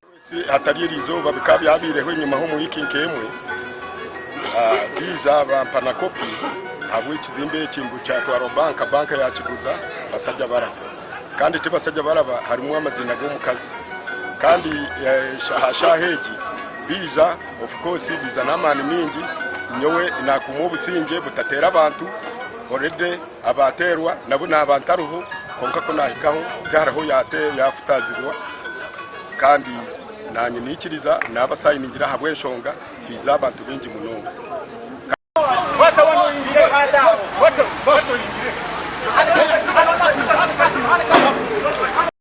Kwesi hatari eri izooba bikaba byabaireho enyima h'omu wiiki nk'emwe ziiza bampa na kopi ahabw'ekizimbe eki ngu kyatwarwa banka, banka yaakiguza basajja baraba. Kandi ti basajja baraba harimu amaziina g'omukazi. Kandi aha shaaha egi biija of course biija n'amaani maingi, nyowe naakuumwa obusingye butateera abantu already. Abaateerwa nabo naaba ntariho, kwonka ku naahikaho tihariho yaakutaazibwa. Kandi naanye niikiriza naaba saayiningire ahabw'enshonga twaize abantu baingi munonga.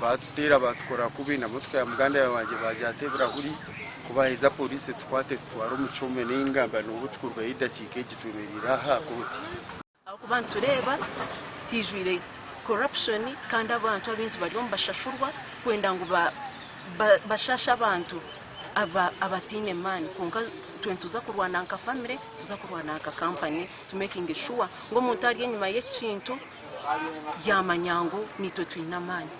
Baatuteera baatukora kubi, nabwo tukaihamu muganda wangye baagira ati ebirahuri ku baaheza poriisi etukwate etutware omu kyome nainga ngamba n'obu turikurugayo edakiika egi twemereire aha aha kooti. Ahabw'okuba nitureeba haijwire corruption kandi abantu abaingi bariyo nibashashurwa kwenda ngu bashashe abantu abataine maani kwonka itwe nituza kurwana nka famire, nituza kurwana nka kampani to making sure ngu omuntu ari enyima y'ekintu. yaamanya ngu naitwe twine amaani.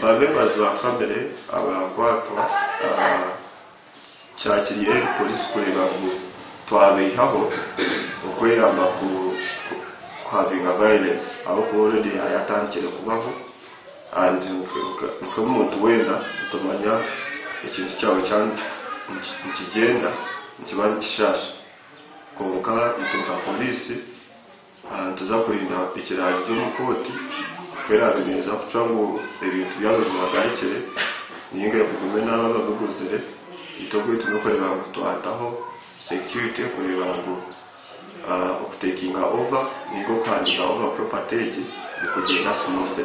Babe ba za famire abarakwatwa kyakiri eri polisi kureeba ngu twabaihaho okweyamba ku kuhavinga violence ahabwokuba already yaba yatandikire kubaho and nk'omuntu weena nitumanya ekintu kyawe kyaaba nikigyenda nikiba nikishaasha kwonka itwe nka polisi Nituza kurinda ekiraaryo omu kooti ku eraabe neeza kucwa ngu ebintu byabo bihagarikire nainga ebigume n'abo ababiguzire. Itwe oku twine kureeba ngu twataho security kureeba ngu oku takinga over nainga oku handinga over property egi nikugyenda smoothly.